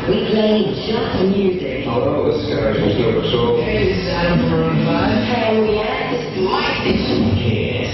We play just music. Hello, this is Gary from Silver Soul. Hey, this is Adam from Room 5. Hey, we have this mic edition. Yes.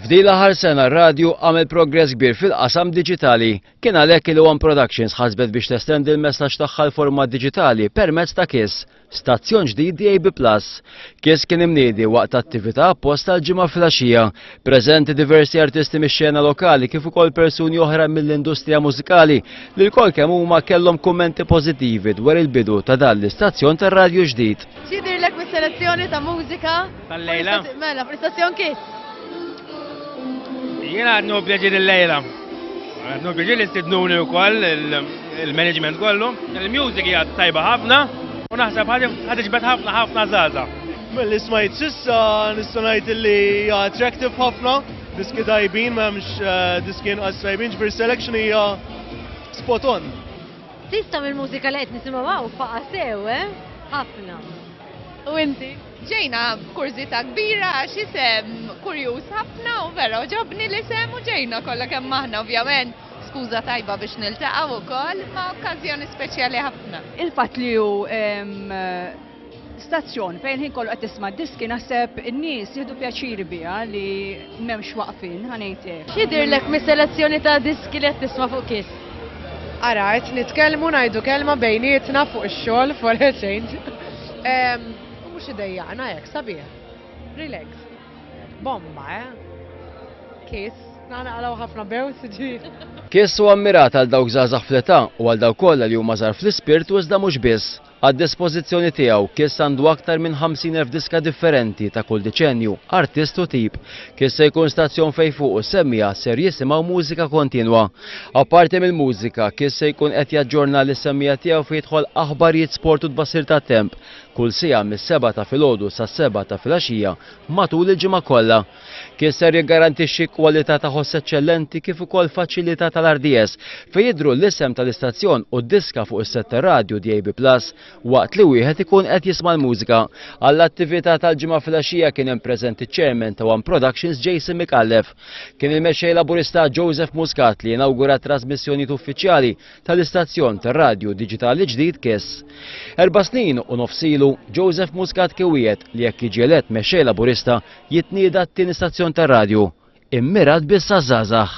F'din l-aħħar sena r-radju għamel progress kbir fil-qasam diġitali. Kien għalhekk il One Productions ħasbet biex testendi l-messaġġ tagħha l-format diġitali permezz ta' Kiss. Stazzjon ġdid DAB Plus. Kiss kien imniedi waqt attività apposta l-ġimgħa flaxija. Preżenti diversi artisti mix-xena lokali kif ukoll persuni oħra mill-industrija mużikali li lkoll kemm huma kellhom kummenti pożittivi dwar il-bidu ta' dan l-istazzjon tar-radju ġdid. X'jidhirlek mis-selezzjoni ta' mużika? Tal-lejla. Mela, prestazzjon kif? Jiena għadnu pjaġir il-lejla. Għadnu pjaġir li stidnuni u koll il-management kollu. Il-music hija tajba ħafna u naħseb ħad iġbed ħafna ħafna zaza. Mill-li smajt sissa nistanajt li hija attractive ħafna, diski tajbin m'hemmx eh, diskin qas tajbin ġbir selection hija spot on. Sista mill-mużika li qed nisimgħu faqasew, eh? Ħafna. U inti? Ġejna b'kurżità kbira għax isem kurjuż ħafna u vera għoġobni l-isem u ġejna kollha kemm aħna ovvjament skuża tajba biex niltaqgħu wkoll imma okkażjoni speċjali ħafna. Il-fatt li hu stazzjon fejn il-ħin kollu qed tisma' d-diski naħseb in-nies jieħdu pjaċir biha li M'hemmx waqfien, ħa ngħid hekk. X'jidhirlek mis-selezzjoni ta' diski li qed tisma' fuq Kiss? Ara, qed nitkellmu ngħidu kelma bejnietna fuq ix-xogħol for a change. Mhux idejjaqna hekk, sabiħ. Relax. Bomba, eh? Kiss, naqalgħu ħafna bew siġi. Kiss huwa mmirat għal dawk żgħażagħ fl-età u għal dawk kollha li huma żgħar fl-ispirtu iżda mhux biss. Għad-dispożizzjoni tiegħu, Kiss għandu aktar minn 50,000 diska differenti ta' kull deċennju, artist u tip. Kiss se jkun stazzjon fejn fuq is-semmiegħa ser jisimgħu mużika kontinwa. Apparti mill-mużika, Kiss se jkun qed jaġġorna lis-semmiegħa tiegħu fejn jidħol aħbarijiet sport u tbassir tat-temp kull siegħa mis-sebgħa ta' filgħodu sas-sebgħa ta' filgħaxija matul il-ġimgħa kollha. Kien ser jiggarantixxi kwalità ta' ħoss eċċellenti kif ukoll faċilità tal-RDS fejn jidhru l-isem tal-istazzjon u d-diska fuq is-sett tar-radju DAB Plus waqt li wieħed ikun qed jisma' l-mużika. Għall-attività tal-Ġimgħa filgħaxija kien hemm preżenti ċ-Chairman ta' One Productions Jason Micallef. Kien il-Mexxej Laburista Joseph Muscat li inawgura t-trasmissjonijiet uffiċjali tal-istazzjon tar-radju diġitali ġdid Kiss. Erba' snin u nofs ilu, Joseph Muscat kien wiegħed li jekk jiġi elett Mexxej Laburista Jitnieda t-tieni stazzjon tar-radju, immirat biss għaż-żgħażagħ.